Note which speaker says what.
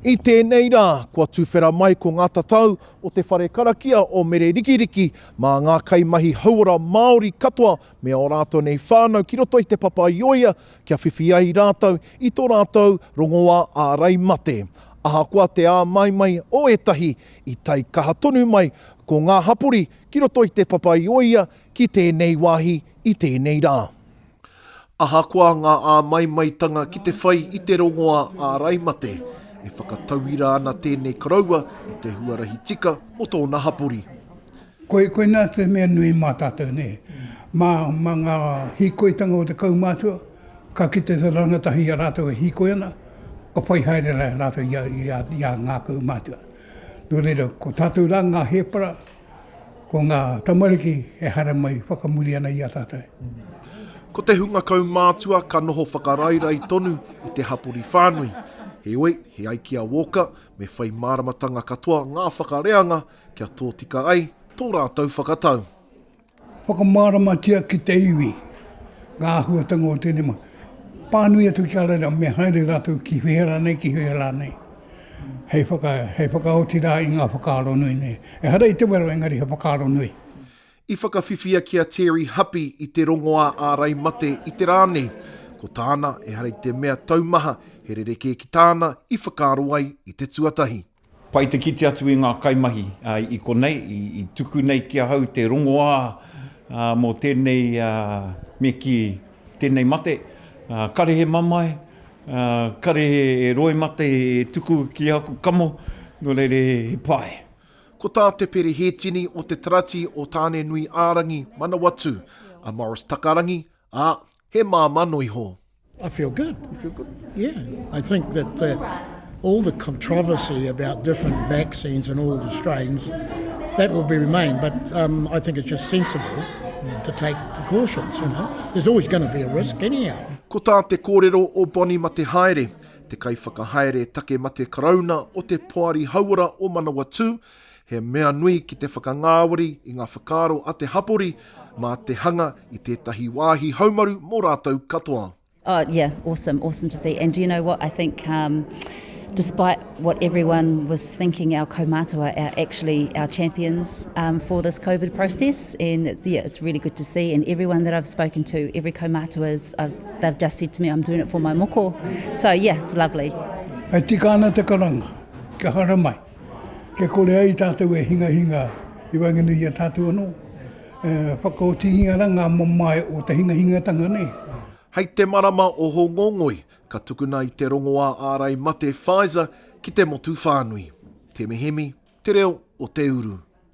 Speaker 1: I tēnei rā, kua tuwhera mai ko ngā tatau o te whare karakia o Mere Rikiriki mā ngā kaimahi hauora Māori katoa me ō rātou nei whānau ki roto i Te Papa-i-ōia kia whiwhi ai rātou i tō rātou rongoā ārai mate. Ahakoa te āmaimai o ētahi, i tae kaha tonu mai ko ngā hapori ki roto i Te Papa-i-ōia ki tēnei wāhi i tēnei rā. Ahakoa ngā āmaimaitanga ki te whai i te rongoā ārai mate, e whakatauira ana tēnei koroua i te huarahi tika o tōna hapori. Koe,
Speaker 2: koinā te mea nui mā tātou nei. Mā, mā ngā hīkoitanga o te kaumātua, ka kite te rangatahi i a rātou e hīkoi ana, ka whai haere rahi rātou i a, i a, i a ngā kaumātua. Nō reira, ko tātou rā ngā hēpara, ko ngā tamariki e haramai i whakamuri ana i a tātou. Ko te
Speaker 1: hunga kaumātua ka noho whakarairai tonu i te hapori whānui. Heoi, he ai ki a Walker, me whai māramatanga katoa ngā whakareanga Kia tōtika ai tō rātou whakatau.
Speaker 2: Whakamāramatia ki te iwi ngā āhuatanga o tēnei mahi. Pānui atu ki a rātou me haere rātou ki whea rānei, ki whea rānei, hei whaka, hei whakaoti rā i ngā whakaaro nui nei. Ehara i te wero engari he whakaaro nui. I whakawhiwhia
Speaker 1: ki a Terry Huppy i te rongoā ārai mate i te rā nei. Ko tāna, ehara i te mea taumaha, he rerekē ki tāna i whakaaro ai i te tuatahi. Pai te kite
Speaker 3: atu i ngā kaimahi i konei i tuku nei ki ahau te rongoā mō tēnei me kī tēnei mate. Kare he mamae, kare he roe mate e tuku ki aku kamo, nō reira he pai. Ko tā Te
Speaker 1: Pere Hētini o Te Tarati o Tāne-nui-ā-rangi, Manawatū, a Maurice Takarangi, ā, He māmā noa iho. I feel good.
Speaker 4: You feel good? Yeah. I think that the, all the controversy about different vaccines and all the strains, that will be remain. But um, I think it's just sensible to take precautions. You know? There's always going to be a risk anyhow. Ko tā te kōrero
Speaker 1: o Bonnie Matehaere, te kaiwhakahaere take mate karauna o te Poari Hauora o Manawatū, He mea nui ki te whakangāwari i ngā whakaaro a te hapori mā te hanga i tētahi wāhi haumaru mō rātou katoa. Oh yeah,
Speaker 5: awesome, awesome to see. And do you know what I think? Um, despite what everyone was thinking, our kaumātua are actually our champions um, for this COVID process, and it's, yeah, it's really good to see. And everyone that I've spoken to, every kaumātua is, I've, they've just said to me, I'm doing it for my moko. So yeah, it's lovely. E tika ana
Speaker 2: te karanga, kia haramai. Kia kore ai tātou e hingahinga i waenganui i a tātou anō, e whakaotingia rā ngā mamae o te hingahingatanga nei. Hei te marama
Speaker 1: o Hōngongoi, ka tukuna i te rongoā ārai mate Pfizer ki te motu whānui. Te Mihemi, Te Reo o Te Uru.